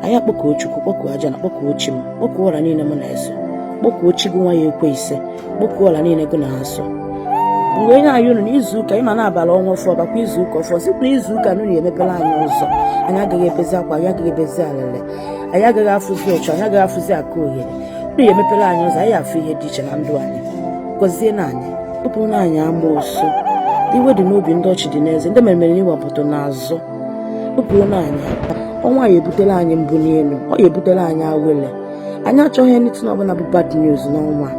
anyị akpọkuo chukwu kpọkuo ajana kpọkuo chi m kpọkuo ọla niile m na-eso kpọkuo chi gị nwa ya ekwe ise kpọkuo ọla niile gị na-eso mgbe onye anyị unu n'izu ụka ịma na-abala ọnwa ọfụ bakwa izu ụka ọfụ site na izu ụka nụ unu emepela anyị ụzọ anyị agaghị ebezi akwa anyị agaghị ebezi alịlị anyị agaghị afụzi ọchụ anyị agaghị afụzi aka ohere unu ya emepela anyị ụzọ anyị afụ ihe dị iche na ndụ anyị gọzienụ anyị bupụrụnụ anyị amoosu iwe dị n'obi ndị ọchị dị n'eze ndị meremere n'ihu gwompiti n'azụ bupụla anyị ọnwa a ya ebutela anyị mbuni elu ọ ya ebutela anyị awele anyị achọghị anything ọbụla bụ bad news n'ọnwa a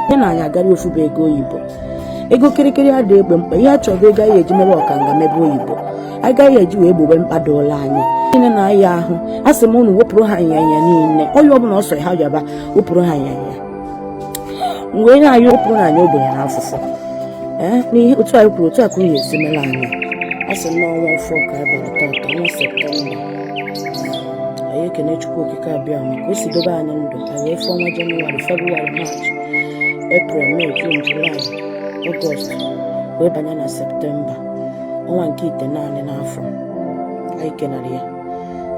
nyenụ anyị agara ofu bụ ego oyibo ego kịrịkịrị adị egbo mkpa ihe a chọrọ ego anyị eji mebe ọkanga mebe oyibo anyị ga-eji wee gbobe mkpa dụla anyị niile na ahịa ahụ a sị m unu wepụrụ ha ịnyanya niile onye ọbụla ọ sọrọ ha yaba wepụrụ ha ịnyanya mgbe onye anyị bupụnụ anyị ogbenye na afụfụ eh, n'ihe otu anyị kwuru otu a ka o si mere anyị a sị na ọnwa ọfụ ka anyị bara taata ọnwa septemba anyị ekene chukwu okike abịama ka o si dobe anyị ndụ anyị wee fụọ ọnwa jenụwarị febụwarị maachị eprel mee jun julaị ọgọst wee banye na septemba ọnwa nke itenaanị n'afọ anyị kenara ya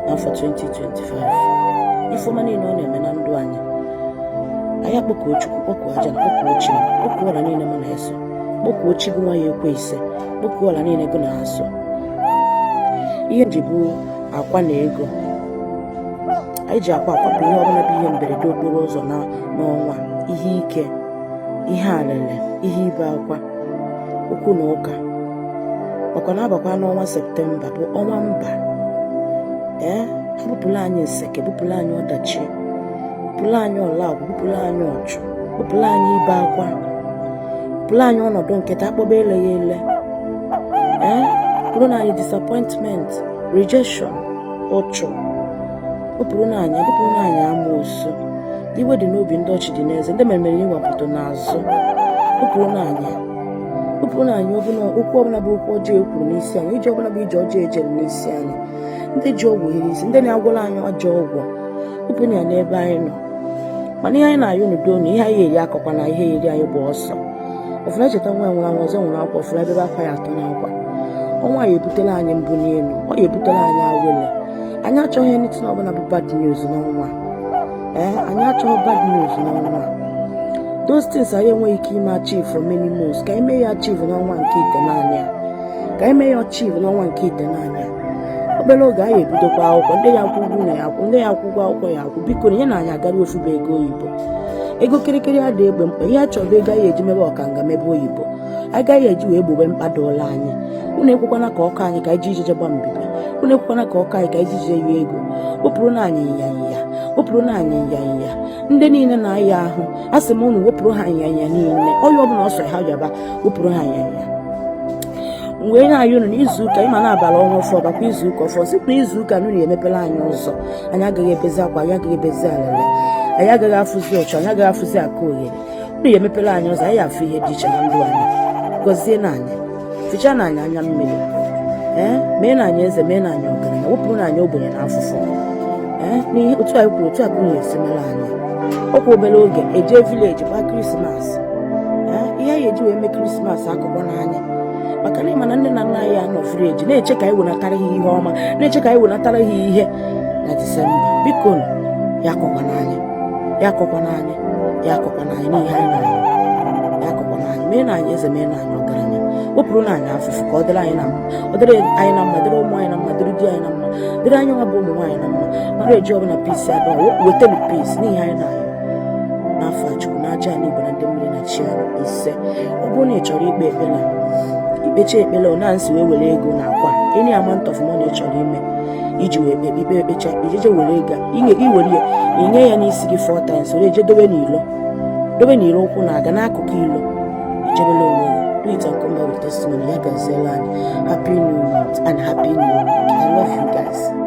n'afọ 2025 ife ọma niile ọ na-eme na ndụ anyị anyị akpọkuo chukwu kpọkuo ajana kpọkuo chi kpọkuo ọla niile mụ na-eso kpọkuo chi gụ nwa ya ekwe ise kpọkuo ọla niile gụ na-eso ihe m ji bụ akwa na ego anyị ji akwa akwapụ ihe ọbụla bụ ihe mberede okporo ụzọ n'ọnwa a ihe ike ihe alịlị ihe ibe akwa okwu na ụka ọkwa na abakwa n'ọnwa septemba bụ ọnwa mba ee bupụla anyị nseke bupụla anyị ọdachi bupụla anyị ọlagwụ bupụla anyị ọchụ bupụla anyị ibe akwa bupụla anyị ọnọdụ nketa akpọba eleghị ele ee bupụrụnụ anyị disappointment rejection uchu bupụrụnụ anyị bupụrụnụ anyị amoosu iwe dị n'obi ndị ọchị dị n'eze ndị meremere n'ihu gwompiti n'azụ bupụrụnụ anyị bupụrụnụ anyị okwu ọbụla bụ okwu ọjọọ e kwuru n'isi anyị ije ọbụla bụ ije ọjọọ e jere n'isi anyị ndị ji ọgwụ hiri isi ndị na-agwọla anyị ajọ ọgwụ bupụrụ ya n'ebe anyị nọ mana ihe anyị na-ayọ unu bụ na ihe anyị eri akọkwana ihe eri anyị gbaa ọsọ ọfụna echeta nwa nwụrụ anwụ ọzọ nwụrụ akwa ọfụna ebe akwa ya atọ n'akwa ọnwa a ya ebutela anyị mbuni elu ọ ya ebutela anyị awele anyị achọghị anything ọbụla bụ bad news n'ọnwa ee eh, anyị achọghị bad news n'ọnwa a those things anyị enweghị ike ime achieve for many months ka e mee ya achieve n'ọnwa nke itenaanị a ka e mee ya achieve n'ọnwa nke itenaanị a obere oge anyị ebidokwa akwụkwọ ndị ya akwụ ụgwọ ụnọ ya akwụ ndị ya akwụ ụgwọ akwụkwọ ya akwụ biko nyenụ anyị agara ofuba ego oyibo ego kịrịkịrị adị egbo mkpa ihe a chọrọ ego anyị eji mebe ọkanga mebe oyibo anyị ga-eji wee gbowe mkpa dịịrị anyị unu ekwekwana ka ọ kọ anyị ka anyị ji ijije gba mbibi unu ekwekwana ka ọ kọ anyị ka anyị ji ijije yie ego wepụrụnụ anyị nyanya wepụrụnụ anyị nyanya ndị niile na-aya ahụ a sị m unu wepụrụ ha nyanya niile ọya ọbụla ọ sọrọ ha yaba wepụrụ ha nyanya mgbe onye anyị unu n'izuụka ị ma na a bara ọnwa ọfụụ bakwa izuụka ọfụụ site n'izuụka na unu emepere anyị ụzọ anyị agaghị ebezi akwa anyị agaghị ebezi alịlị anyị agaghị afụzi ụchụ anyị agaghị afụzi aka oghere unu ya emepere anyị ụzọ anyị afụ ihe dị iche na ndụ anyị gọzienụ anyị fichaanụ anyị anya mmiri ee meenụ anyị eze meenụ anyị ọgaranya wepụrụnụ anyị ogbenye na afụfụ ee n'ihe otu anyị kwuru otu a ka unu esi mere anyị ọ kwa obere oge e je village gbaa christmas ee ihe anyị eji wee mee christmas akọkwana anyị maka na ị ma na nne na nna anyị nọ village na-eche ka anyị wenatara ha ihe ọma na-eche ka anyị wenatara ha ihe na december biko ya akọkwana anyị ya akọkwana anyị ya akọkwana anyị n'ihe anyị na-arụ ya akọkwana anyị meenụ anyị eze meenụ anyị ọgaranya wepụrụnụ anyị afụfụ ka ọ dịrị anyị na mma ọ dịrị anyị na mma dịrị ụmụ anyị na mma dịrị di anyị na mma dịrị anyị nwa bụ ụmụ nwaanyị na mma marriage ọbụla peace adịrọ wetenụ peace n'ihe anyị na-arụ n'afa chukwu na aja ala igbo na ndị mmiri na chi anyị ise ọ bụrụ na ị chọrọ ikpe ekpere i kpecha ekpere ọ na-nsị wee were ego na akwa any amount of money ị chọrọ ime iji wee kpe ikpe ekpecha ijeje were ego i were ya i nye ya n'isi gị four times were eje dobe n'ilo dobe n'ilo ụkwụ na-aga n'akụkụ ilo i jebere onwe gị Do it and come back with testimony. Ya gaziere anyị, Happy New Month and Happy New Week. I love you guys.